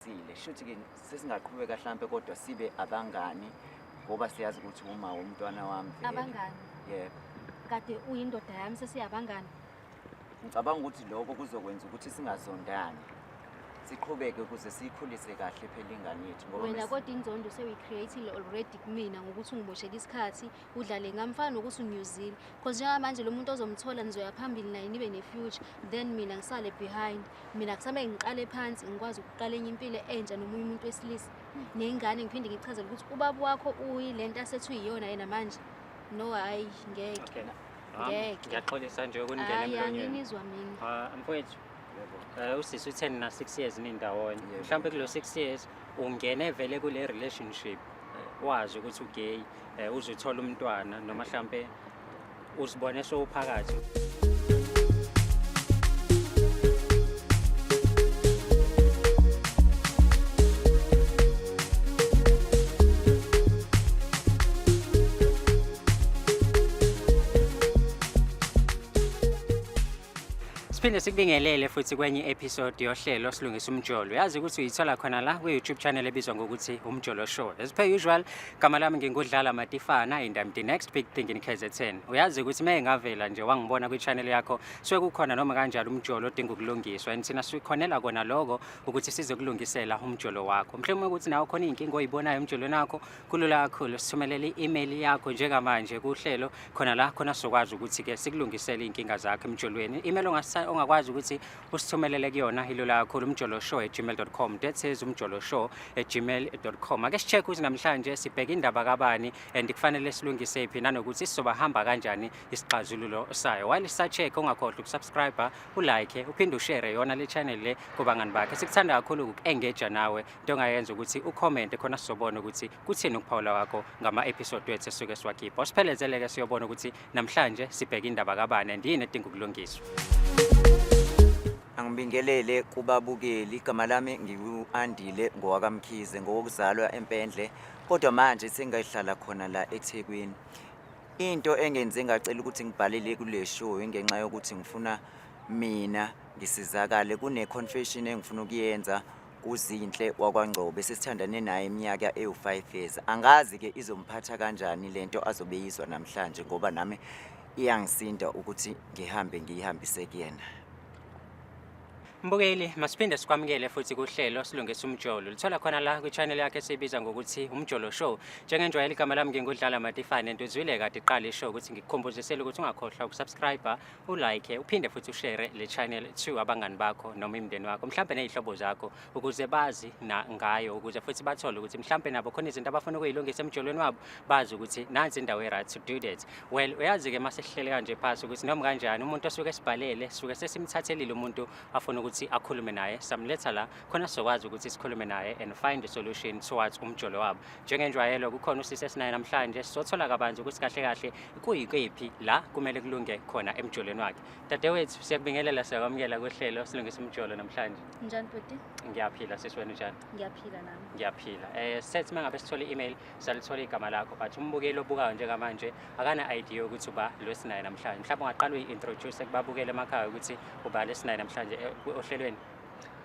Sile shuthi ke sesingaqhubeka mhlambe kodwa sibe abangani ngoba siyazi ukuthi uma womntwana wami vele. Abangani. Yebo. Kade uyindoda yami sesiyabangani. Ngicabanga ukuthi lokho kuzokwenza ukuthi singazondani. Siqhubeke ukuze siyikhulise kahle phela ingane yethu ngoba Wena kodwa inzondo sewuyicreatile already kumina ngokuthi ungiboshela isikhathi udlale ngamfana nokuthi unyuzile because njengamanje lo muntu ozomthola nizoya phambili naye nibe ne-future then mina ngisale behind mina kusamele ngiqale phansi ngikwazi ukuqala enye impilo entsha nomunye umuntu wesilisa ney'ngane ngiphinde ngichazele ukuthi ubaba wakho uyi le nto asethu yiyona yena manje no hhayi ngeke ngeke ngiyaxolisa nje ukuningena emlonyeni mina ah, mfowethu Eh, usisi uthe nina 6 years nindawonye Yebo. mhlawumbe kulo 6 years ungene vele kule relationship eh, wazi ukuthi ugay eh, uzothola umntwana noma mhlawumbe uzibone sowuphakathi Siphinde sikubingelele futhi kwenye episode yohlelo silungisa umjolo. Yazi ukuthi uyithola khona la kwi YouTube channel ebizwa ngokuthi Umjolo Show. As per usual, gama lami ngingudlala Matifana and I'm the next big thing in KZN. Uyazi ukuthi uma engavela nje wangibona kwi channel yakho, suke kukhona noma kanjalo umjolo odinga ukulungiswa and thina sikhonela kona lokho ukuthi sizokulungisela umjolo wakho. Mhlawumbe ukuthi nawe khona izinkinga oyibonayo umjolweni wakho, kulula kakhulu sithumelele i-email yakho njengamanje kuhlelo khona la khona sizokwazi ukuthi-ke sikulungisele iy'nkinga zakho emjolweni i-email ongakwazi ukuthi usithumelele kuyona ilula kakhulu umjolo show at gmail com that says umjolo show at gmail com ake si-check ukuthi namhlanje sibheke indaba kabani and kufanele silungise phi nanokuthi sizobahamba kanjani isixazululo sayo while sisachekhe ungakhohlwa ukusubscribe ulike uphinde ushere yona le channel le kubangani bakhe sikuthanda kakhulu uku-engaja nawe into ongayenza ukuthi ucommente khona sizobona ukuthi kuthini ukuphawula kwakho ngama-episode wethu esuke siwakhipha usiphelezele-ke siyobona ukuthi namhlanje sibheke indaba kabani and yini edinga ukulungiswa angibingelele kubabukeli igama lami ngiwu-andile ngowakamkhize ngowokuzalwa empendle kodwa manje sengayihlala khona la ethekwini into engenze ngacela ukuthi ngibhalele kule show ingenxa yokuthi ngifuna mina ngisizakale kune-confession engifuna ukuyenza uzinhle wakwangcobe sesithandane naye iminyaka ewu-five years angazi-ke izomphatha kanjani le nto azobe yizwa namhlanje ngoba nami iyangisinda ukuthi ngihambe ngiyihambise kuyena Mbukeli, masiphinde sikwamukele futhi kuhlelo silungisa umjolo. Lithola khona la kwichannel yakhe esibiza ngokuthi Umjolo Show. Njengenjwayela igama lami ngingudlala Matifane, ntuzwile kade iqala ishow ukuthi ngikukhumbuzisele ukuthi ungakhohlwa ukusubscribe, ulike uphinde futhi ushere le channel to abangani bakho noma imndeni wakho mhlawumbe nezihlobo zakho ukuze bazi na ngayo ukuze futhi bathole ukuthi mhlawumbe nabo khona izinto abafuna ukuyilungisa emjolweni wabo bazi ukuthi nansi indawo e-right to do that well uyazi-ke uma sesihlele kanje phasi ukuthi noma kanjani umuntu osuke esibhalele suke sesimthathelile umuntu afuna ukuthi akhulume naye samletha la khona sizokwazi ukuthi sikhulume naye and find a solution towards umjolo wabo njengenjwayelo kukhona usisi esinaye namhlanje sizothola kabanzi ukuthi kahle kahle kuyikephi la kumele kulunge khona emjolweni wakhe dadewethu siyakubingelela siyakwamukela kohlelo silungisa umjolo namhlanje njani bhuti ngiyaphila sisi wena njani ngiyaphila nami ngiyaphila um sethi uma ngabe sithole i-email salithola igama lakho but umbukeli obukayo njengamanje akana-idea ukuthi uba lo esinaye namhlanje mhlawumbe ungaqala uyi-introduce kubabukele emakhaya ukuthi uba lo esinaye namhlanje eh, ohlelweni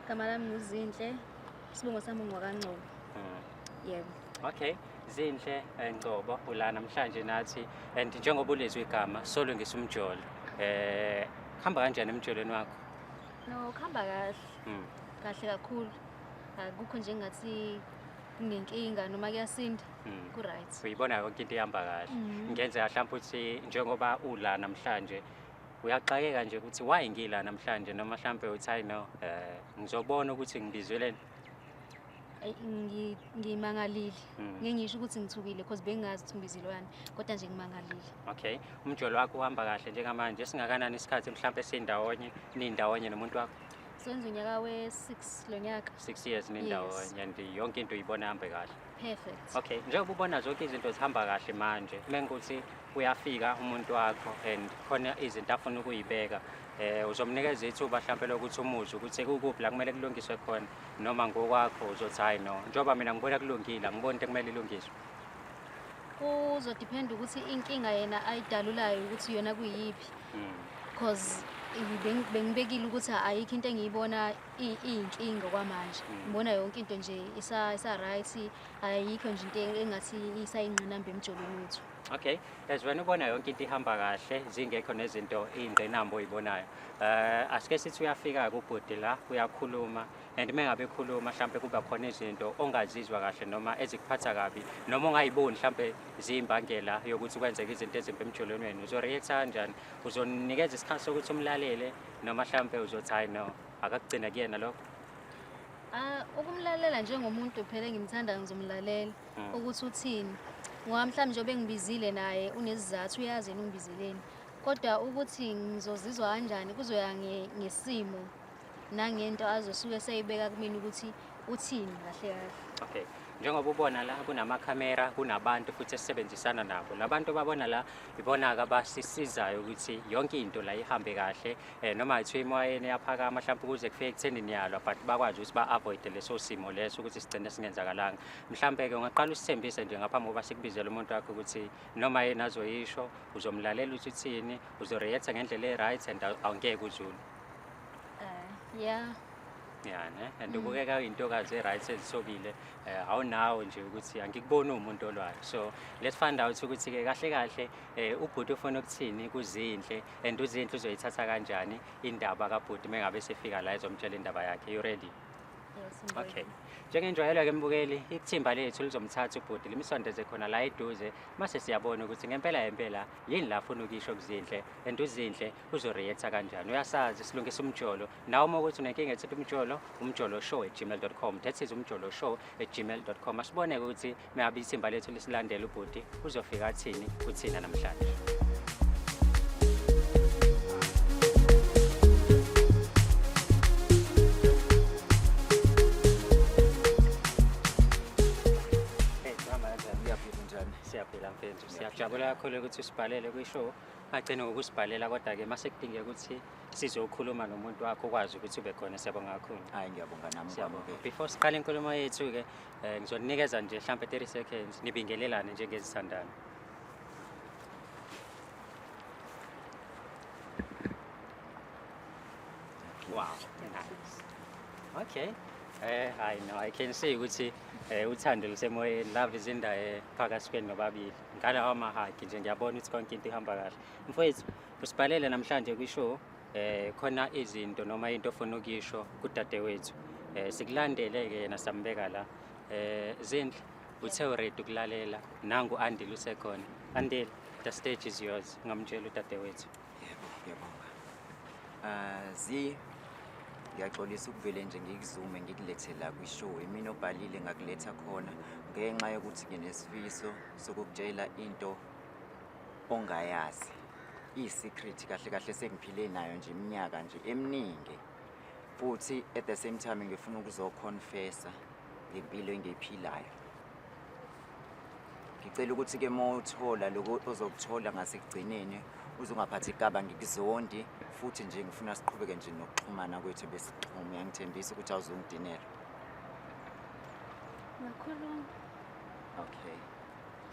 gama lami nguzinhle isibongo sami ungwakangcobo yebo okay zinhle eh, ngcobo ula namhlanje nathi and njengoba ulezwe igama solungisa umjolo eh hamba kanjani emjolweni wakho no khamba kahle mm. kahle kakhulu akukho nje ngathi kunenkinga noma kuyasinda mm. ku right uyibona yonke into ihamba kahle mm. ngenze mhlawumbe ukuthi njengoba ula namhlanje uyaxakeka nje ukuthi why ngila namhlanje noma mhlambe uthi i know eh ngizobona ukuthi ngibizweleni ngimangalile mm. ngingisho ukuthi ngithukile because bengingazi ukuthi ngibizilwane kodwa nje ngimangalile okay umjolo wakho uhamba kahle njengamanje singakanani isikhathi mhlawumbe sindawonye nindawonye nomuntu wakho senza unyaka we-six lo nyaka six years nindawonye and yonke into uyibona hambe kahle perfect okay njengoba ubona zonke izinto zihamba kahle manje uma ngukuthi uyafika umuntu wakho and khona izinto afuna ukuyibeka eh uzomnikeza ithuba mhlawumbe lokuthi umuzwe ukuthi kukuphi la kumele kulungiswe khona noma ngokwakho uzothi hayi no njengoba mina ngibona kulungile angiboni into kumele ilungiswe kuzodependa ukuthi inkinga yena ayidalulayo ukuthi yona kuyiphi because hmm. bengibekile ukuthi ayikho into engiyibona iyinkinga kwamanje hmm. ngibona yonke into nje isa-right ayikho nje into engathi isayingqinamba emjolweni wethu Okay, as wena ubona yonke into ihamba kahle zingekho nezinto ingqinamba oyibonayo. Eh uh, asike sithi uyafika kubhuti la uyakhuluma and mengabe ekhuluma mhlambe kuba khona izinto ongazizwa kahle noma ezikuphatha kabi noma ongayiboni mhlambe ziyimbangela yokuthi kwenzeke izinto ezimbi emjolweni wenu. Uzo react kanjani? Uzonikeza isikhathi sokuthi umlalele noma mhlambe uzothi hayi no akakugcina kuyena lokho. Ah, ukumlalela njengomuntu phela engimthanda ngizomlalela. mm. ukuthi uthini ngoba mhlawumbe njengoba engibizile naye unezizathu uyazi yena ungibizeleni kodwa ukuthi ngizozizwa kanjani kuzoya ngesimo nangento azosuke seyibeka kumina ukuthi uthini kahle kahle okay njengoba ubona la kunamakhamera kunabantu futhi esisebenzisana nabo labantu babona la ibona-ke abasisizayo ukuthi yonke into la ihambe kahle um noma kuthiwa imoyeni yaphakama mhlawumpe ukuze kufike ekutheni niyalwa but bakwazi ukuthi ba-avoide leso simo leso ukuthi sigcine singenzakalanga mhlampe-ke ungaqala usithembise nje ngaphambi kokuba sikubizele umuntu wakho ukuthi noma yena azoyisho uzomlalela ukuthi uthini uzoreactha ngendlela e-right and awungeke uzulu eh, ya ya ne and mm. ubukeka uyintokazi e-right ezisobile um eh, awunawo nje ukuthi angikuboni uwumuntu olwayo so let's find out ukuthi-ke kahle kahle um ubhuti ufuna ukuthini kuzinhle and uzinhle uzoyithatha kanjani indaba kabhuti uma ngabe sefika la ezomtshela indaba yakhe you ready okay njengenjwayelo-ke mbukeli ithimba lethu lizomthatha ubhuti limsondeze khona la eduze mase siyabona ukuthi ngempela yempela yini la funa ukisho kuzinhle and uzinhle uzoreacta kanjani uyasazi silungisa umjolo nawe uma ukuthi unenkinga ethithi umjolo umjolo show at gmail com that is umjolo show at gmail com asibone-ke ukuthi Meabe ithimba lethu lisilandela ubhuti uzofika athini kuthina namhlanje. siyaphila mfethu siyajabula kakhulu ukuthi usibhalele kwishow agcine ngokusibhalela kodwa-ke uma sekudingeka ukuthi sizokhuluma nomuntu wakho ukwazi ukuthi ube khona siyabonga kakhulu hayi ngiyabonga nami before siqale inkulumo yethu-ke Eh ngizoninikeza nje mhlambe 30 seconds nibingelelane njengezithandana. Wow. Nice. Okay. Eh I know I can see ukuthi eh uthando lusemoyeni love is in the air phakathi kwenu nobabili. Ngala wamahagi nje ngiyabona ukuthi konke into ihamba kahle. Mfowethu usibhalele namhlanje kwishow eh khona izinto noma into ofuna ukuyisho kudadewethu eh sikulandele ke yena sambeka la eh zindle uthe uready ukulalela nangu andile usekhona andile the stage is yours ngamtshela udadewethu yebo ngiyabonga ah zi ngiyaxolisa ukuvele nje ngikuzume ngikulethe la kwishow imina obhalile ngakuletha khona ngenxa yokuthi nginesifiso sokukutshela into ongayazi iyi-secret kahle kahle sengiphile nayo nje iminyaka nje eminingi futhi at the same time ngifuna ukuzoconfessa ngempilo engiyiphilayo ngicela ukuthi ke mothola lokho ozokuthola ngasekugcineni uzungaphathi igaba ngikuzondi futhi nje ngifuna siqhubeke nje nokuxhumana kwethu besixhume yangithembisa ukuthi awuzungidinela ngakhuluma okay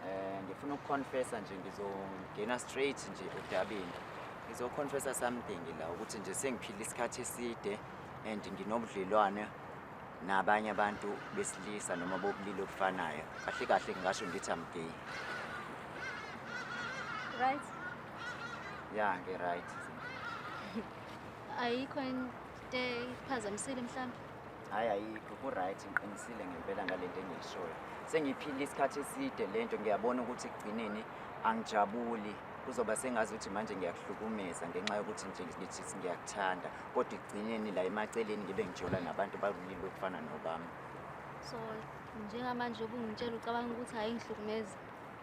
Eh ngifuna ukuconfessa nje ngizongena straight nje odabeni. Ngizoconfessa something la ukuthi nje sengiphila isikhathi eside and nginobudlelwane nabanye abantu besilisa noma bobulili obufanayo. Kahle kahle ngingasho ngithi I'm gay. Right? Yeah, ngi right. Ayikho into ephazamisile mhlawumbe. hhayi ayikho ku-right ngiqinisile ngempela ngale nto engiyishoyo sengiphile isikhathi eside le nto ngiyabona ukuthi ekugcineni angijabuli kuzoba sengazi ukuthi manje ngiyakuhlukumeza ngenxa yokuthi nje ngithi ngiyakuthanda kodwa ekugcineni la emaceleni ngibe ngijola nabantu bakulile okufana nobami so njengamanje ubungitshela ucabanga ukuthi hhayi ngihlukumeza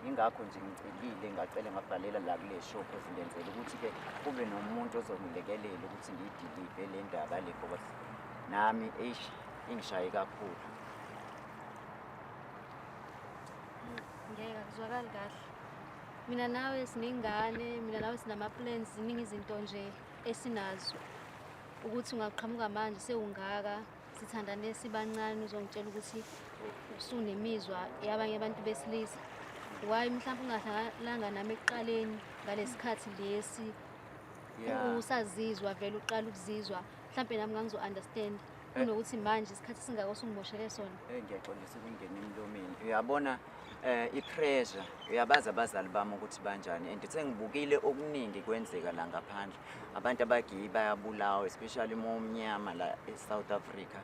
Yingakho nje ngicelile ngacela ngabhalela la kule show cause ngenzela ukuthi-ke kube nomuntu ozongilekelela ukuthi ngiyidilive le ndaba le ngoba nami eish ingishaye kakhulu ngeke akuzwakali kahle mina nawe sinengane mina nawe sinama-plans ziningi izinto nje esinazo ukuthi ungaqhamuka manje sewungaka sithandane sibancane uzongitshela ukuthi usunemizwa yabanye abantu besilisa why mhlawumbe ungadlalanga nami ekuqaleni ngalesikhathi lesi usazizwa vele uqala ukuzizwa mhlawumbe nami ngangizo-understand eh. kunokuthi manje isikhathi singako sungimoshele sona eyi ngiyaxolisa ukungena emlomeni uyabona Eh ipressure uyabaza abazali bami ukuthi banjani and sengibukile okuningi kwenzeka la ngaphandle. Abantu abagiyi bayabulawa especially uma umnyama la eSouth Africa.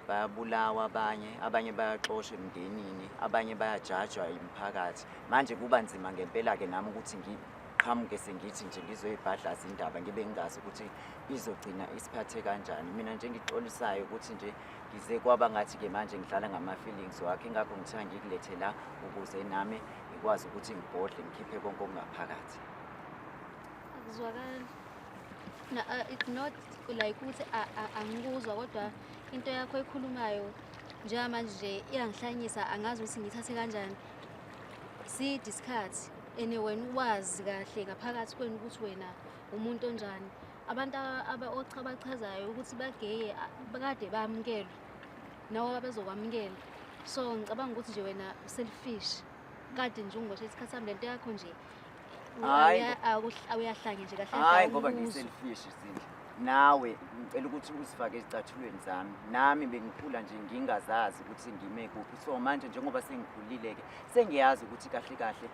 Bayabulawa abanye, abanye bayaxoshwa emndenini, abanye bayajajwa yimphakathi. Manje kuba nzima ngempela ke nami ukuthi ngiqhamuke sengithi nje ngizoyibhadlaza indaba ngibe ngingazi ukuthi izogcina isiphathe kanjani. Mina nje engikuxolisayo ukuthi nje ngize kwaba ngathi-ke manje ngidlala ngama-feelings wakhe ingakho ngithiwa ngikulethe la ukuze nami ngikwazi ukuthi ngibhodle ngikhiphe konke okungaphakathi akuzwakali uh, it's not like ukuthi angikuzwa kodwa into yakho ekhulumayo njengamanje nje iyangihlanyisa angazi ukuthi ngithathe kanjani side isikhathi and wena uwazi kahle ngaphakathi kwenu ukuthi wena umuntu onjani abantu abachabachazayo ukuthi bageye kade bayamukelwe nawo abezokwamukela so ngicabanga ukuthi nje wena selfish kade nje ungiboshe isikhathi sami lento yakho nje awuyahlanye nje kahlehhayi ngoba ngiselfish zindla nawe ngicela ukuthi uzifake ezicathulweni zami nami bengikhula nje ngingazazi ukuthi ngime kuphi so manje njengoba sengikhulile-ke sengiyazi ukuthi kahle kahle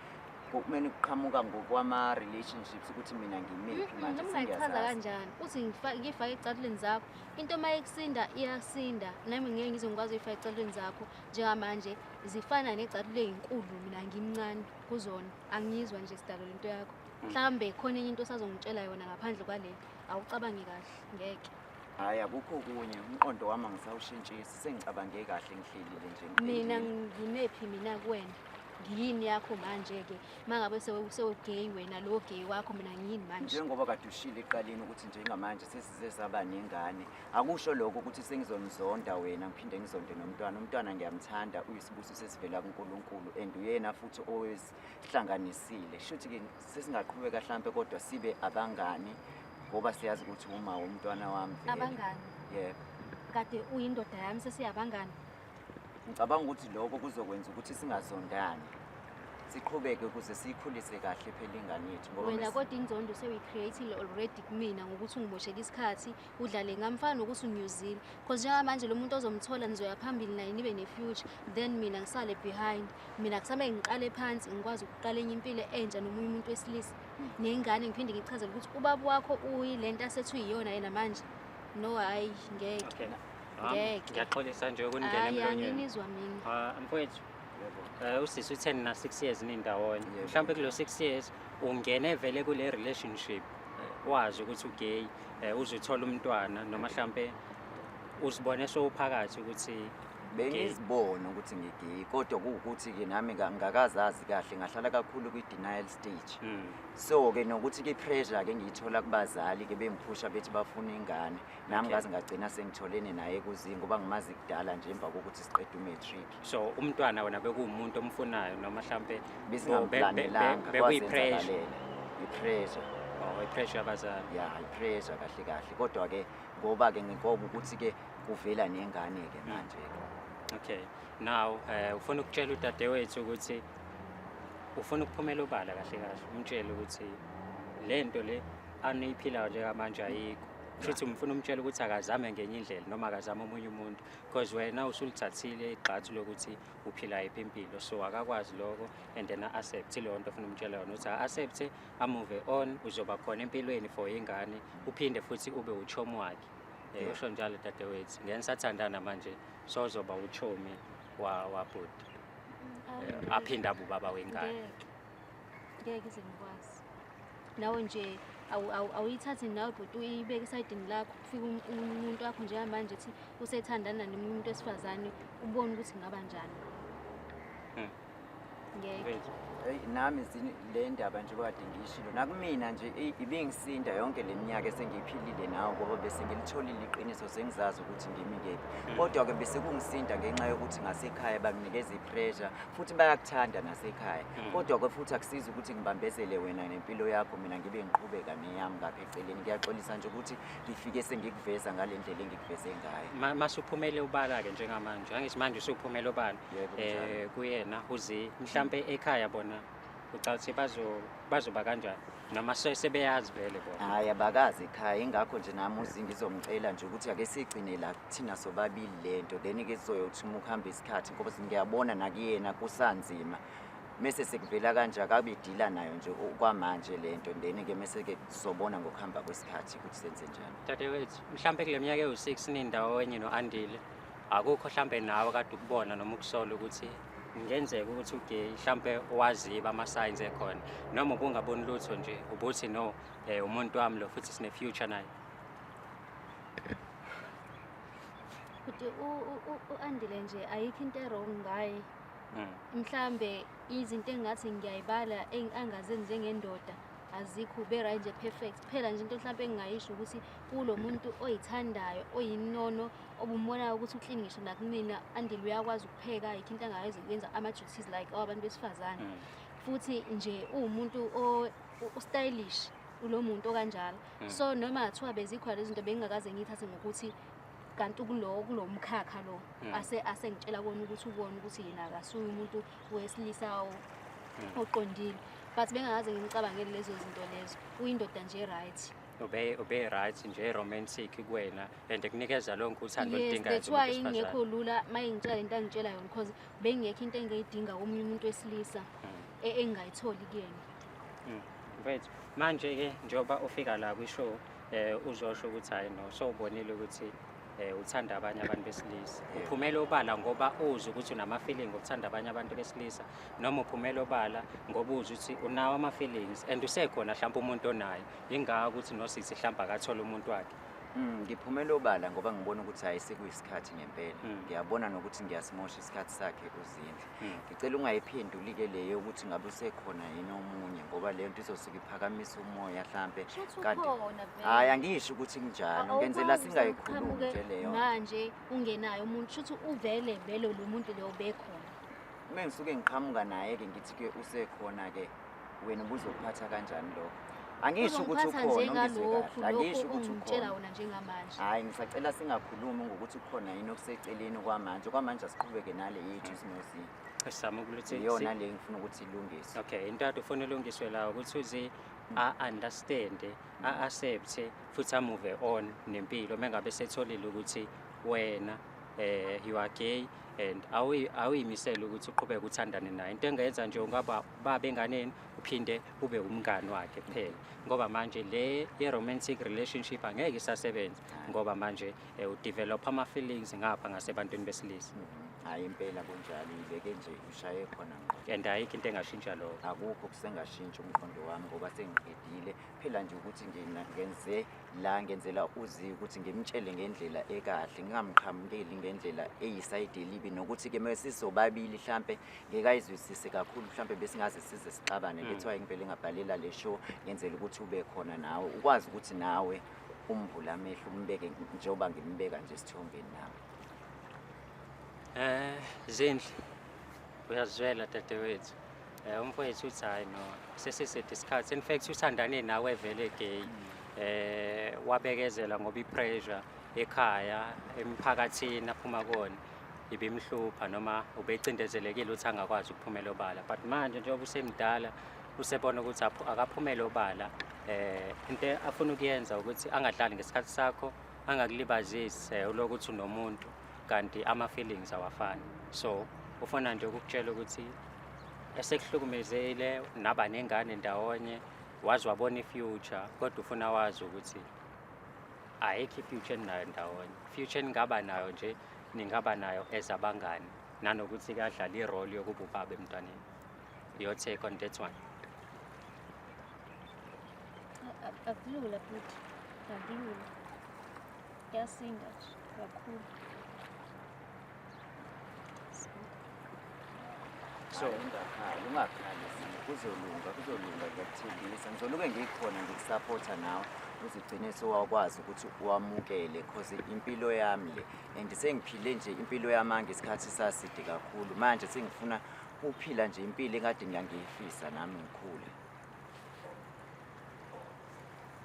Kumele kuqhamuka ngokwama relationships ukuthi mina ngimiphi mm, manje singachaza kanjani. Uthi ngifake ecathuleni zakho. Into uma ikusinda iyasinda. Nami ngeke ngize ngikwazi ukufaka ecathuleni zakho njengamanje zifana necathule ezinkulu mina ngimncane kuzona. Angizwa nje sidalo lento yakho. Mm. Mhlambe khona enye into osazongitshela yona ngaphandle kwale. Awucabangi kahle ngeke. Hayi akukho kunye umqondo wami angisawushintshisi sengicabange kahle ngihlelile nje. Mina ngimephi mina kuwena? ngiyini yakho manje-ke uma ngabe sewugeyi wena lo geyi wakho mina ngiyini manje njengoba kade ushile eqaleni ukuthi njengamanje sesize saba nengane akusho lokho ukuthi sengizonizonda wena ngiphinde ngizonde nomntwana umntwana ngiyamthanda uyisibuso sesivela kunkulunkulu and uyena futhi owesihlanganisile shuthi-ke sesingaqhubeka hlampe kodwa sibe abangani ngoba siyazi ukuthi uma womntwana wami abangani yebo kade uyindoda yami sesiyabangani Ngicabanga ukuthi lokho kuzokwenza ukuthi singazondani. Siqhubeke ukuze siyikhulise kahle phela ingane yethu ngoba wena kodwa inzondo sewuyicreatile already kumina ngokuthi ungimoshele isikhathi udlale ngamfana nokuthi unyuzile cause njengamanje lo muntu ozomthola nizoya phambili naye nibe ne-future then mina ngisale behind mina kusamele ngiqale phansi ngikwazi ukuqala enye impilo entsha nomunye umuntu wesilisa hmm. nengane ngiphinde ngichazele ukuthi ubaba wakho uyi le nto asethi uyiyona yena manje no hhayi ngeke Ngeke. Ngiyaxolisa nje ukuningena Hayi, emlonyeni. anginizwa mina. Ah, mfowethu. Eh usisi utheni na 6 years nindawonye. Yebo. Mhlawumbe kulo 6 years ungene vele kule relationship eh, wazi ukuthi ugay, eh, uzithola umntwana noma mhlawumbe uzibone sowuphakathi ukuthi bengizibona ukuthi ngigeyi kodwa kuwukuthi-ke nami ka- ngakazazi kahle ngahlala kakhulu kwi-denial stage mm, so-ke nokuthi-ke i-pressure-ke ngiyithola kubazali-ke bengiphusha bethi bafuna ingane nami ngaze ngagcina sengitholene naye kuzinga ngoba ngimazi kudala nje emva kokuthi siqede umatric so umntwana wena bekuwumuntu omfunayo noma mhlawumpe besingamplanelangabekwayipres bekuyipres ipressure oh ipressure yabazali ya ipressure kahle kahle kodwa ke ngoba ke nginkoba ukuthi ke kuvela nengane ke hmm. manje okay now eh ufuna ukutshela udadewethu ukuthi ufuna ukuphumela obala kahle kahle umtshele ukuthi lento le aniyiphilayo njengamanje ayikho kushuthi ngifuna umtshela ukuthi akazame ngenye indlela noma akazame omunye umuntu because wena usulithathile igxathu lokuthi uphila yiphi impilo so akakwazi lokho and then a-accept leyo nto ofuna umtshela yona ukuthi a-accept amove on uzoba khona empilweni for ingane uphinde futhi ube uchomi wakhe um usho njalo dadewethu ngeke nisathandana manje sozoba uchomi wabhuti mm, um aphinde abubaba wengane ngeke ize ngikwazi nawe nje awuyithathi nawe bhuti uyibeke esayidini lakho kufika um-, umuntu wakho njengamanje ethi usethandana nomunye umuntu wesifazane ubone ukuthi ngaba njani hmm. ngeke eyi nami le ndaba nje kade ngiyishilo nakumina nje ibingisinda yonke le minyaka esengiyiphilile nawo ngoba bese ngilitholile iqiniso sengizazi ukuthi ngimi kephi hmm. kodwa-ke bese kungisinda ngenxa yokuthi ngasekhaya banginikeza i-pressure futhi bayakuthanda nasekhaya hmm. kodwa ke futhi akusizi ukuthi ngibambezele wena nempilo yakho mina ngibe ngiqhubeka neyami ngapha eceleni ngiyaxolisa nje ukuthi ngifike sengikuveza ngale ndlela engikuveze ngayo masuphumele ubala-ke njengamanje angithi manje usuphumele obala um eh, kuyena uzi mhlawumpe ekhaya bona ucathi ukuthi bazo bazoba kanjani noma se- sebeyazi vele bona hhayi abakazi ekhaya ingakho nje nami uzi ngizomcela nje ukuthi ake sigcine la thina sobabili le nto then ke sizoyothi uma ukuhamba isikhathi ngoba ngiyabona nakuyena kusanzima mese sekuvela kanje akabe edila nayo nje u- kwamanje le nto then ke mese ke sizobona ngokuhamba kwesikhathi ukuthi senze njani dadewethu mhlawumbe kule minyaka ewu-six nindawonye no-andile akukho mhlawumbe nawe kade ukubona noma ukusola ukuthi kungenzeka ukuthi uge mhlampe waziba ama-signs ekhona noma ubungaboni lutho nje ubuthi no um umuntu wami lo futhi sine-future naye futhi u-andile nje ayikho into erong ngaye mm. mhlambe izinto engathi ngiyayibala angazenzi njengendoda azikho ubera nje perfect kuphela nje into mhlawumbe engingayisho ukuthi kulo muntu oyithandayo oyinono obumbonayo ukuthi uclean ngisho nakumina andile uyakwazi ukupheka yikho into angayenza ukwenza ama-duties like awabantu besifazane mm. futhi nje uwumuntu ustylish ulo muntu okanjalo mm. so noma ngathiwa bezikhona lezi zinto bengingakaze ngiyithathe ngokuthi kanti kulo kulo mkhakha lo mm. ase asengitshela kona ukuthi ubone ukuthi yena akasuye umuntu wesilisa oqondile but bengakaze ngimcabangele lezo zinto lezo uyindoda nje right ube ube right nje romantic kuwena and kunikeza lonke uthando oludingayo yes that's why ingekho lula mayengitshela into angitshela yona because bengekho into engiyidinga komunye umuntu wesilisa mm. e, engayitholi kuyena mm. right manje ke njoba ufika la kwi show eh uzosho ukuthi hayi no so ubonile ukuthi eh uthanda abanye abantu besilisa uphumele obala ngoba uzi ukuthi unama feeling okuthanda abanye abantu besilisa noma uphumele obala ngoba uzi ukuthi unawo ama feelings and usekhona mhlawumbe umuntu onayo Ingaka ukuthi nosisi hlamba akathole umuntu wakhe. Mm, ngiphumela obala ngoba ngibona ukuthi hayi sekuyisikhathi ngempela. Mm. Ngiyabona nokuthi ngiyasimosha isikhathi sakhe kuzindle. Mm. Ngicela ungayiphenduli ke leyo ukuthi ngabe usekhona yini omunye ngoba leyo nto izosuke iphakamisa umoya hlambe. Kanti hayi angisho ukuthi kunjalo. Ngenzela singayikhulumi nje leyo. Manje ungenayo umuntu shuthi uvele vele lo muntu leyo bekhona. Uma ngisuke ngiqhamuka naye ke ngithi ke usekhona ke. wena ubuzokuphatha kanjani lokho angisho ukuthi ukhona njengalokhu lokho ungitshela wona njengamanje hayi ngisacela singakhulumi ngokuthi ukhona yini okuseceleni kwamanje kwamanje asiqhubeke nale yethu sinozinto esizama ukuthi iyona le ngifuna ukuthi ilungiswe okay into ade ufuna ilungiswe la ukuthi uzi a understand a accept futhi a move on nempilo mengabe setholile ukuthi wena eh you are gay and awuyimisela ukuthi uqhubeke uthandane naye into engenza nje ungaba baba enganeni uphinde ube umngani wakhe kuphela ngoba manje le ye-romantic relationship angeke isasebenza ngoba manje eh, udevelop ama-feelings ngapha ngasebantwini besilisa hhayi impela kunjalo ibeke nje ushaye khona ngqo and ayikho into engashintsha lokho akukho kusengashintsha umqondo wami ngoba sengiqedile phela nje ukuthi ngina- ngenze la ngenzela uzi ukuthi ngimtshele ngendlela ekahle ngingamqhamukeli ngendlela eyisayidi elibi nokuthi-ke uma sisobabili hlampe ngeke ayizwisise kakhulu mhlawumbe besingaze size sixabane mm. lethiwa ngivele ngabhalela le show ngenzela ukuthi ube khona nawe ukwazi ukuthi nawe umbula amehlo umbeke njengoba ngimbeka nje esithombeni nami eh zindle uyazwela dadewethu eh umfowethu uthi hayi no sesisede isikhathi in fact uthandane nawe vele gay mm. eh wabekezela ngoba ipressure ekhaya emphakathini aphuma kona ibimhlupha noma ubecindezelekile ukuthi angakwazi ukuphumela obala but manje njengoba usemdala usebona ukuthi akaphumele obala eh into afuna ukuyenza ukuthi angadlali ngesikhathi sakho angakulibazisi eh, uloku ukuthi unomuntu kanti ama feelings awafani so ufuna nje ukukutshela ukuthi esekuhlukumezile naba nengane ndawonye wazi wabona ifuture kodwa ufuna wazi ukuthi ayikho i-future eninayo ndawonye future eningaba nayo nje ningaba nayo as abangani nanokuthi kadlala irole yokuba ubaba emntwaneni your take on that one akulula futhi akulula kuyasinda kakhulu so ungakhali ungakhali kuzolunga kuzolunga ngiyakuthembisa ngizoluke ngikhona ngikusaphotha nawe uzigcine sewakwazi ukuthi wamukele cause impilo yami le and sengiphile nje impilo yamanga isikhathi saside kakhulu manje sengifuna ukuphila nje impilo engade ngiyangiyifisa nami ngikhule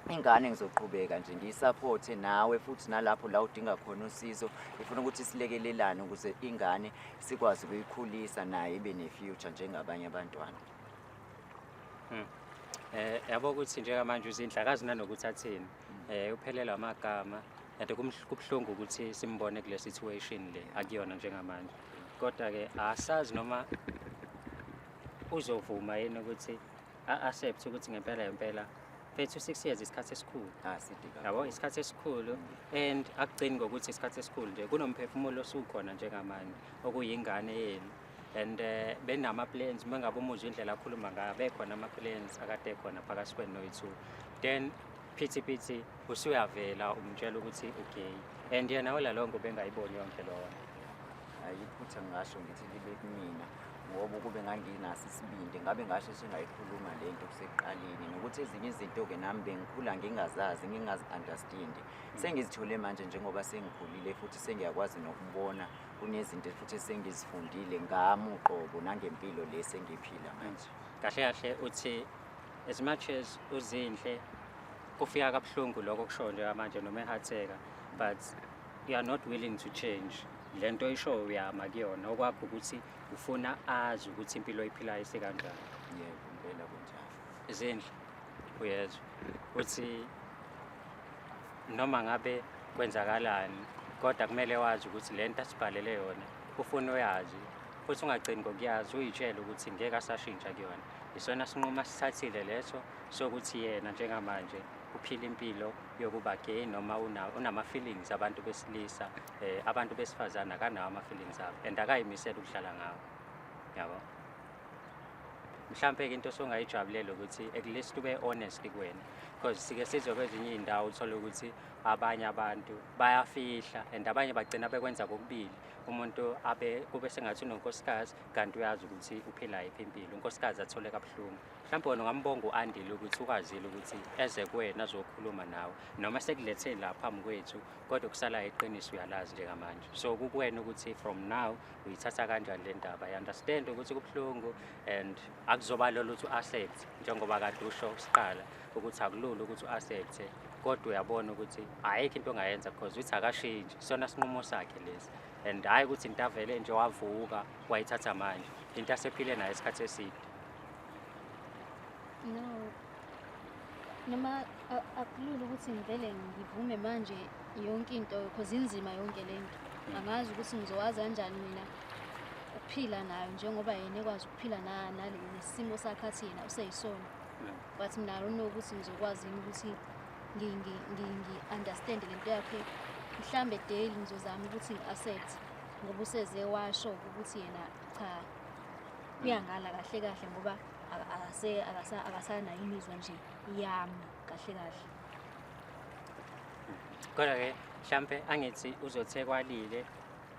ingane ngizoqhubeka nje ngiyisapothe nawe futhi nalapho la udinga khona usizo ngifuna ukuthi silekelelane ukuze ingane sikwazi ukuyikhulisa naye ibe ne-future njengabanye abantwana hmm. eh yabo ukuthi njengamanje uzindla akazi nanokuthi athini eh uphelelwa amagama yade kubuhlungu ukuthi simbone kule situation le akuyona njengamanje kodwa ke asazi noma uzovuma yini ukuthi a-accept ukuthi ngempela ngempela fethu six years isikhathi esikhulu ah, yabo isikhathi esikhulu and akugcini ngokuthi isikhathi esikhulu nje kunomphefumulo osukhona njengamanje okuyingane yenu and eh, benama-plans uma ngabe umuzwa indlela akhuluma ngayo bekhona ama-plans akade khona phakathi kwenu noyi-two then phithi phithi usuyavela umtshela ukuthi ugay and yena olalowo ngobengayiboni yonke lona ayiphutha ngasho ngithi libe kumina ngoba ukube nganginaso isibindi ngabe ngasho singayikhuluma le nto kuseqaleni nokuthi ezinye izinto-ke nami bengikhula ngingazazi ngingazi-understandi sengizithole manje njengoba sengikhulile futhi sengiyakwazi nokubona kunezinto futhi esengizifundile ngami uqobo nangempilo le sengiphila manje kahle kahle uthi as much as uzinhle kufika kabuhlungu lokho kusho njengamanje noma ehatheka but you are not willing to change lento isho uyama kuyona okwakho ukuthi ufuna azi ukuthi impilo iphilayo isikanjani yebo ngempela kunjalo izindle uyezwa uthi noma ngabe kwenzakalani kodwa kumele wazi ukuthi le nto asibhalele yona ufuna uyazi futhi ungagcini ngokuyazi uyitshele ukuthi ngeke asashintsha kuyona isona sinqumo asithathile leso sokuthi yena njengamanje uphila impilo yokuba gay noma unama-feelings abantu besilisa um abantu besifazane akanawo ama-feelings abo and akayimisele ukudlala ngawo yabo mhlawumpe-ke into osongayijabulele ukuthi at least ube honest kuwena because sike sizwe kwezinye iy'ndawo uthole ukuthi abanye abantu bayafihla and abanye bagcina bekwenza kokubili umuntu abe kube sengathi unonkosikazi kanti uyazi ukuthi uphila yiphi impilo unkosikazi athole kabuhlungu mhlawumbe wena ungambonga u-andile ukuthi ukwazile ukuthi eze kuwena azokhuluma nawe noma sekuletheni la phambi kwethu kodwa kusalayo iqiniso uyalazi njengamanje so kukuwena ukuthi from now uyithatha kanjani le ndaba i-understand ukuthi kubuhlungu and akuzoba lolo ukuthi u-accept njengoba kade usho siqala ukuthi akulula ukuthi u-accept kodwa uyabona ukuthi ayikho into ongayenza because uthi akashintshi sona sinqumo sakhe lesi and hhayi ukuthi into avele nje wavuka wayithatha manje into asephile nayo isikhathi eside no noma akulula ukuthi ngivele ngivume manje yonke into because inzima yonke le nto hmm. angazi ukuthi ngizowazi kanjani mina ukuphila nayo njengoba yena ekwazi ukuphila nesimo sakhe athi yena useyisona hmm. but mina alona ukuthi ngizokwazi yini ukuthi ngi-understand le nto yakhe mhlawumbe daily ngizozama ukuthi ngi-accept ngoba useze washo ukuthi yena cha uyangala kahle kahle ngoba akasanayo imizwa nje yami kahle kahle kodwa-ke mhlampe angithi uzothekwalile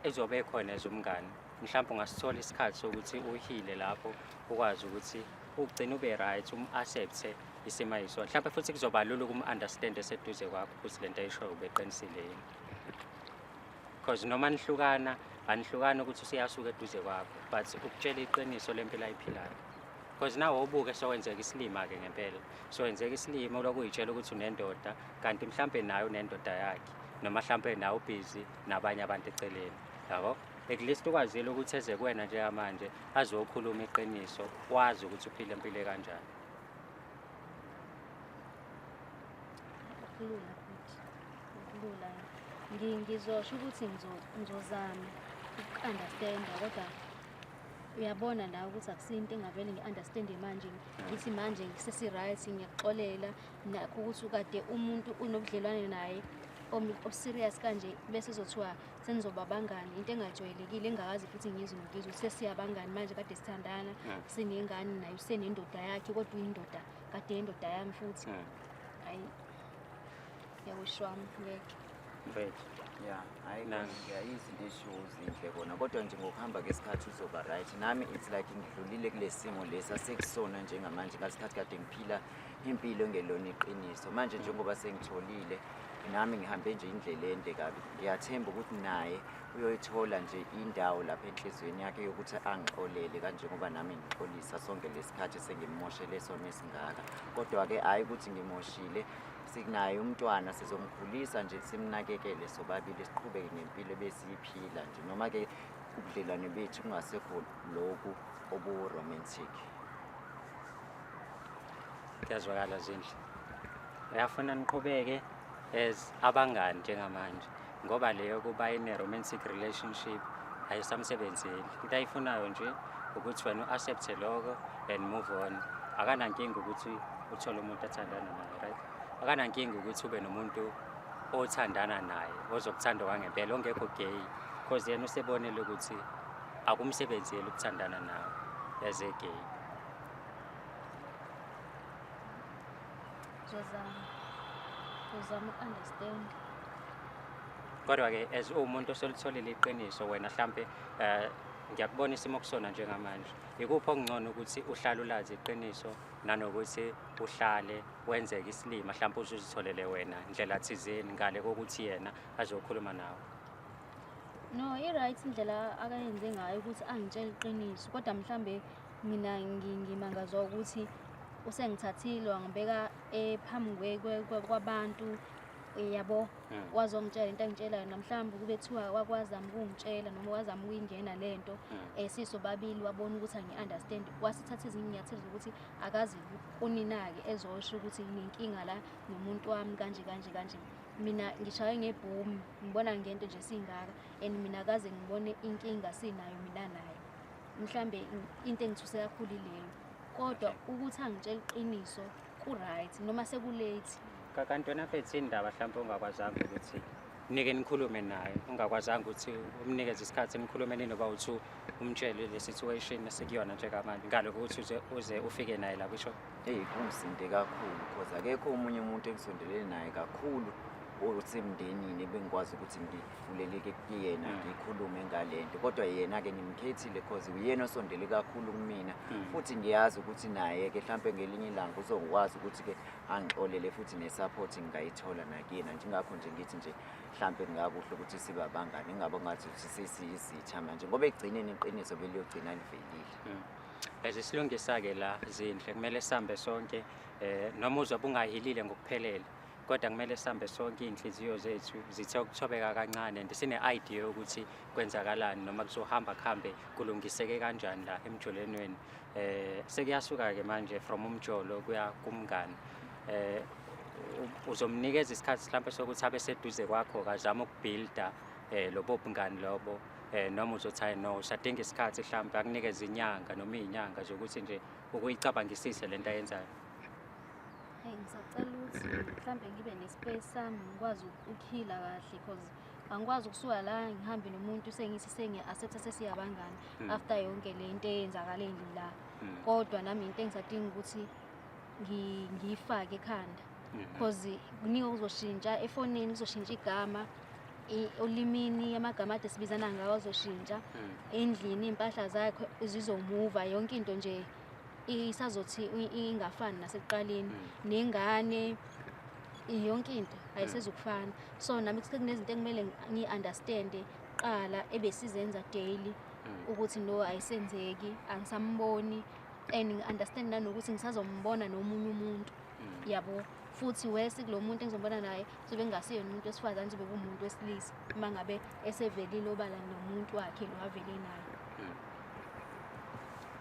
ezobe khona ezomngane mhlawumbe ungasithola isikhathi sokuthi uhile lapho ukwazi ukuthi ugcine ube right um-accepte isimo ayisona mhlawumbe futhi kuzoba lula ukum-understand eseduze kwakho ukuthi le nto ayishoyo ubeqinisile yini because noma nihlukana anihlukani ukuthi useyasuka eduze kwakho but ukutshela iqiniso lempilo ayiphilayo because nawe ubuke sokwenzeka isilima-ke ngempela sokwenzeka isilima ulokhu uyitshela ukuthi unendoda kanti mhlawumbe naye unendoda yakhe noma mhlawumbe nawe ubhizi nabanye abantu eceleni yabo at least ukwazile ukuthi eze kuwena njengamanje azokhuluma iqiniso wazi ukuthi uphile empilo kanjani kulula Lula, ngizosho ukuthi ngizozama uku-understanda kodwa uyabona la ukuthi akusinto engavele ngi-understande manje ngithi manje ngisesi-right ngiyakuxolela nakho ukuthi ukade umuntu unobudlelwane naye oserious kanje bese zothiwa senizoba bangani into engajwayelekile engakazi futhi ngizwe nokizwe sesiyabangani manje kade sithandana sinengane naye usenendoda yakhe kodwa uyindoda kade yendoda yami futhi hayi yakusho wami ngeke mfethu ya hayi yayizinto eshiwo zinhle kona kodwa nje ngokuhamba kwesikhathi uzoba right nami it's like ngidlulile kule simo lesi asekusona njengamanje ngasikhathi kade ngiphila impilo engelona iqiniso manje njengoba sengitholile nami ngihambe nje indlela ende kabi ngiyathemba ukuthi naye uyoyithola nje indawo lapha enhliziyweni yakhe yokuthi angixolele kanjengoba nami ngixolisa sonke lesikhathi sengimoshele sona esingaka kodwa-ke hhayi ukuthi ngimoshile Sinaye umntwana sizomkhulisa nje simnakekele sobabili siqhubeke nempilo ebesiyiphila nje noma ke ubudlelwane bethu kungasekho lokhu obu-romantic kuyazwakala zindle uyafuna niqhubeke as abangani njengamanje ngoba leyo kuba ine-romantic relationship ayisamsebenzeli into ayifunayo nje ukuthi wena u-accepte loko and move on akanankinga ukuthi uthole umuntu athandana naye right akanankinga ukuthi ube nomuntu othandana naye ozokuthanda kwangempela ongekho gay because yena usebonele ukuthi akumsebenzeli ukuthandana nawe as a gay Zozama. Uzama uku-understand. Kodwa-ke as uwumuntu osolitholile iqiniso wena hlampe um ngiyakubona isimo kusona njengamanje yikuphi okungcono ukuthi uhlale ulazi iqiniso nanokuthi uhlale wenzeke isilima hlampe uzuzitholele wena ndlela thizeni ngale kokuthi yena azokhuluma nawe no i-right indlela akayenze ngayo ukuthi angitshele iqiniso kodwa mhlawumbe Mina ngimangazwa ukuthi usengithathile wangibeka eh, phambi kwabantu eh, yabo hmm. wazongitshela into engitshelayo namhlawumbe kube kuthiwa wakwazama ukungitshela noma wazama ukuyingena le nto um hmm. eh, sisobabili wabona ukuthi angi-understand wasithatha ezinye inyathelo zokuthi akazi kunina-ke ezosho ukuthi nginenkinga la nomuntu wami kanje kanje kanje mina ngishaye ngebhomu ngibona ngento nje singaka and mina kaze ngibone inkinga sinayo mina naye mhlambe into engithuse kakhulu ilelo kodwa ukuthi angitshela iqiniso ku-right noma sekulate kakanti wena fethu indaba mhlawumpe ongakwazanga ukuthi nike nikhulume naye ungakwazanga ukuthi umnikeze isikhathi nikhulume ninoba uthi umtshele le situation esikuyona njengamanje ngale kokuthi uze uze ufike naye la kusho eyi kungisinde kakhulu because akekho omunye umuntu engisondelene naye kakhulu or usemndenini ebengikwazi ukuthi ngidini vuleleke kuyena mm. ngikhulume ngalento kodwa yena-ke ngimkhethile cause uyena osondele kakhulu kumina mm. futhi ngiyazi ukuthi naye-ke mhlampe ngelinye ilanga uzokwazi ukuthi-ke angixolele futhi ne-support ngingayithola nakuyena njengakho nje ngithi nje mhlampe kungakuhle ukuthi sibe abangani ingabe ngathi ukuthi sesiyizitha manje ngoba ekugcineni iqiniso beliyogcina livelile mm. as isilungisa-ke la zinhle kumele sihambe sonke um noma uzwa bungahilile ngokuphelele kodwa kumele sihambe sonke iy'nhliziyo zethu zithe ukuthobeka kancane and sine-idea yokuthi kwenzakalani noma kuzohamba kuhambe kulungiseke kanjani la emjolenweni um eh, sekuyasuka-ke manje from umjolo kuya kumngani um uzomnikeza isikhathi mhlawumpe sokuthi abe seduze kwakho kazama ukubhilda um eh, lobo bungani lobo um noma uzothi hayi no usadinga isikhathi mhlawumpe akunikeza inyanga noma iy'nyanga zokuthi nje ukuyicabangisise le nto ayenzayo Hey ngisacela ukuthi mhlambe ngibe nespace sami ngikwazi ukukhila kahle because angikwazi ukusuka la ngihambe nomuntu sengisi sengi accept sesiyabangani hmm. after yonke le into eyenzakale la hmm. kodwa nami into engisadinga ukuthi ngiyifake ekhanda hmm. because kuningi okuzoshintsha efonini kuzoshintsha igama olimini amagama ade sibizana ngawo azoshintsha endlini iy'mpahla zakhe zizomuva yonke into nje isazothi ingafani nasekuqaleni mm. nengane yonke into ayisezukufana mm. so nami kunezinto ekumele ngi-understande qala ebesizenza daily mm. ukuthi no ayisenzeki angisamboni and ngi-understand nanokuthi ngisazombona nomunye umuntu yabo futhi wesi kulo muntu engizombona naye sobe kungasiyona umuntu wesifazane sobe kumuntu wesilisa uma ngabe esevelile obala nomuntu wakhe lo avele naye hmm.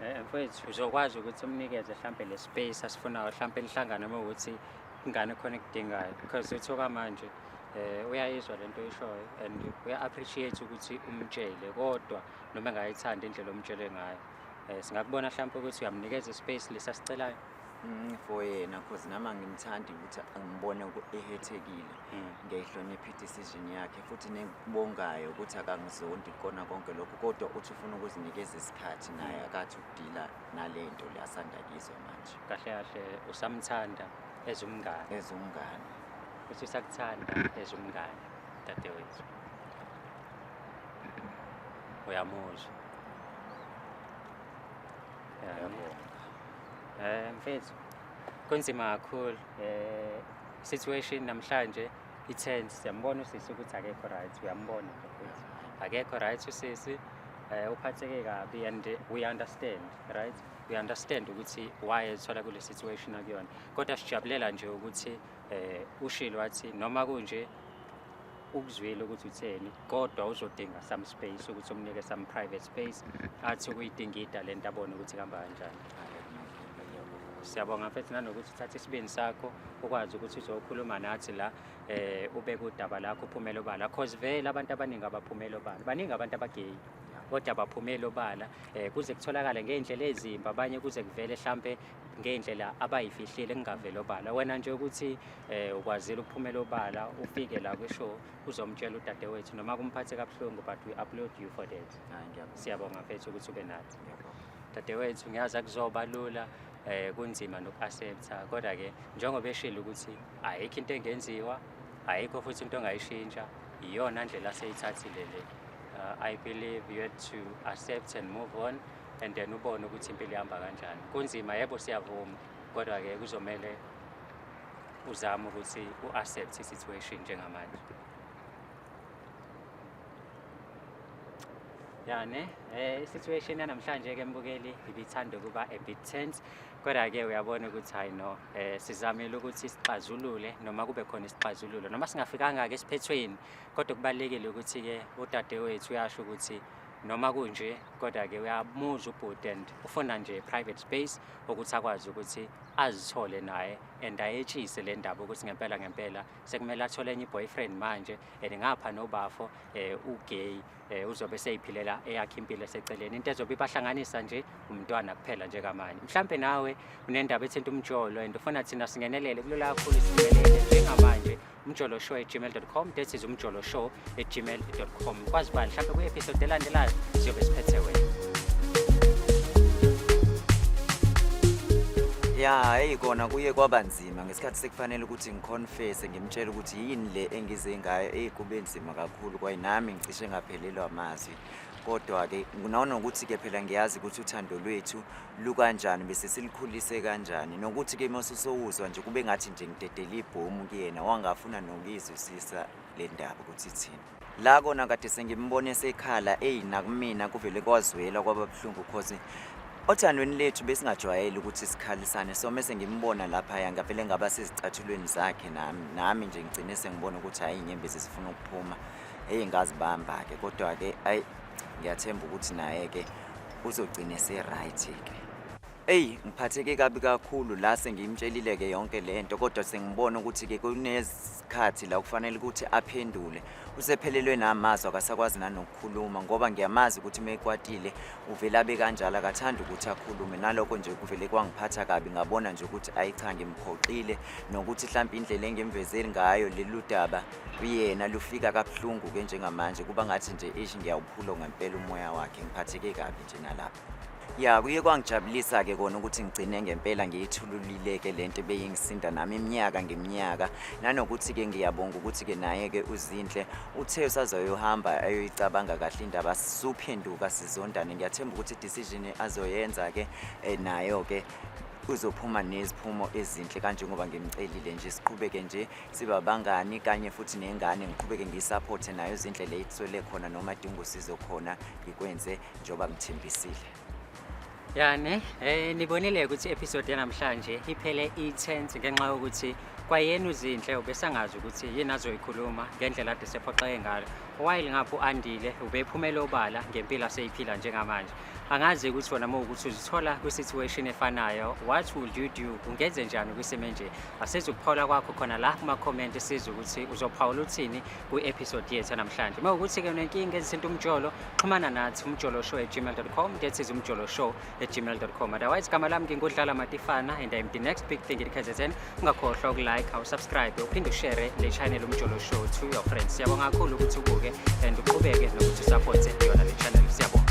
eh, mfowethu uzokwazi ukuthi umnikeze mhlawumbe le space asifunayo mhlawumbe lihlangane uma ukuthi ingane khona ekudingayo because uthoka manje um uyayizwa le nto ishoyo and uya-appreciate ukuthi umtshele kodwa noma engayithandi indlela omtshele ngayo um singakubona mhlawumpe ukuthi uyamnikeza ispace lesi asicelayo Mm, for yena cause nami angimthandi ukuthi angibone ku- ehethekile Mm. ngiyayihlonipha i-decision yakhe futhi nekubongayo ukuthi akangizondi kona konke lokhu kodwa uthi ufuna ukuzinikeza isikhathi naye akathi ukudila nale nto le asanda kizwa manje kahle kahle usamthanda as umngane as umngane futhi usakuthanda as umngane dadewethu uyamuzwa Eh mfethu kunzima kakhulu eh situation namhlanje i-tense siyambona usisi ukuthi akekho right uyambona ukuthi akekho right usisi eh uphatheke kabi and we understand right we understand ukuthi why ethola kule situation akuyona kodwa sijabulela nje ukuthi eh ushilo wathi noma kunje ukuzwile ukuthi utheni kodwa uzodinga some space ukuthi umnike some private space athi ukuyidingida le nto abone ukuthi kuhamba kanjani siyabonga mfethu nanokuthi uthathe isibindi sakho ukwazi ukuthi uzokhuluma nathi la eh ubeke udaba lakho uphumele obala cause vele abantu abaningi abaphumele obala baningi abantu abageyi kodwa baphumele obala eh kuze kutholakale ngeindlela ezimbi abanye kuze kuvele mhlambe ngey'ndlela abayifihlile kungaveli obala wena nje ukuthi um ukwazile ukuphumela obala ufike la kwisho uzomtshela udadewethu noma kumphathe kabuhlungu but we upload you for that siyabonga mfethu ukuthi ube nathi dadewethu ngiyazi akuzoba lula um kunzima noku-accepta kodwa-ke njengoba eshile ukuthi ayikho into engenziwa ayikho futhi into ongayishintsha iyona ndlela aseyithathile le uh, i believe you had to accept and move on and then ubone ukuthi impilo ihamba kanjani kunzima yebo siyavuma kodwa-ke kuzomele uzame ukuthi u-accept i-situation njengamanje ya ne um i-situation yanamhlanje-ke mbukeli ibithanda ukuba a bit tense kodwa-ke uyabona ukuthi hhayi no um sizamile ukuthi sixazulule noma kube khona isixazululo noma singafikanga-ke esiphethweni kodwa kubalulekile ukuthi-ke udadewethu uyasho ukuthi noma kunje kodwa-ke uyamuzwa ubhuti and ufuna nje private space ukuthi akwazi ukuthi azithole naye and ayetshise le ndaba ukuthi ngempela ngempela sekumele athole enye i-boyfriend manje and ngapha nobafo um ugay um uzobe seyiphilela eyakhe impilo eseceleni into ezobe ibahlanganisa nje umntwana kuphela njengamanje mhlawumbe nawe unendaba ethinta umjolo and ufuna thina singenelele kulula kakhulu singenelele njengamanje umjolo show at gmail.com that is umjolo show at gmail.com kwazi bani mhlawumbe kwi-episode elandelayo siyobe siphethe wena ya hayi kona kuye kwaba nzima ngesikhathi sekufanele ukuthi ngiconfese ngimtshele ukuthi yini le engize ngayo eyi kube nzima kakhulu kwaye nami ngicishe ngaphelelwa amazwi kodwa-ke nanokuthi-ke phela ngiyazi ukuthi uthando lwethu lukanjani bese silikhulise kanjani nokuthi-ke uma susowuzwa nje kube ngathi nje ngidedele ibhomu kuyena wangafuna nokuyizwisisa le ndaba ukuthi ithini la kona kade sengimbone sekhala eyi nakumina kuvele kwazwela kwaba buhlungu cause othandweni lethu besingajwayele ukuthi sikhalisane so mese ngimbona laphaya ngavele ngaba sezicathulweni zakhe nami nami nje ngigcine sengibona ukuthi hhayi inyembezi zifuna ukuphuma eyi ngazibamba-ke kodwa-ke ayi ngiyathemba ukuthi naye-ke uzogcina ese-right-ke eyi ngiphatheke kabi kakhulu la sengiyimtshelile-ke yonke le nto kodwa sengibona ukuthi-ke kunezikhathi la kufanele ukuthi aphendule usephelelwe namazwi akasakwazi nanokukhuluma ngoba ngiyamazi ukuthi uma ekwatile uvele abe kanjalo akathandi ukuthi akhulume nalokho nje kuvele kwangiphatha kabi ngabona nje ukuthi ayi cha ngimphoxile nokuthi mhlawumpe indlela engimvezeli ngayo lelu daba kuyena lufika kabuhlungu ke njengamanje kuba ngathi nje ish ngiyawuphula ngempela umoya wakhe ngiphatheke kabi nje nalapha ya kuye kwangijabulisa ke kona ukuthi ngigcine ngempela ngiyithululile ke lento beyingisinda nami iminyaka ngeminyaka nanokuthi ke ngiyabonga ukuthi ke naye ke uzinhle uthe usazoyohamba ayoyicabanga kahle indaba suphenduka sizondane ngiyathemba ukuthi decision azoyenza ke eh, nayo ke uzophuma neziphumo ezinhle kanjengoba ngimcelile nje siqhubeke nje siba bangani kanye futhi nengane ngiqhubeke ngiyisaphothe nayo zinhle le ithwele khona noma dinga usizo khona ngikwenze njengoba ngithembisile yani eh nibonile ukuthi episode yanamhlanje iphele i-tense ngenxa yokuthi kwayena uzinhle ubesangazi ukuthi yini azoyikhuluma ngendlela ade sephoxeke ngalo while ngapho andile ubephumele obala ngempilo aseyiphila njengamanje angazi ukuthi wena uma ukuthi uzithola kwi-situation efanayo what would you do ungenze njani kwisimo enje Asizwe ukuphawula kwakho khona la kuma-comment sizwe ukuthi uzophawula uthini kwi-episode yethu namhlanje. Uma ukuthi-ke unenkinga ezithinta umjolo, xhumana nathi umjoloshow at gmail.com, that is umjoloshow at gmail.com. Otherwise, igama lami ngingudlala Matifana and I'm the next big thing in KZN. Ungakhohlwa ukulike, awusubscribe, uphinde ushere le channel umjolo show to your friends. Siyabonga kakhulu ukuthi ubuke and uqhubeke nokuthi usupporte yona le channel. Siyabonga.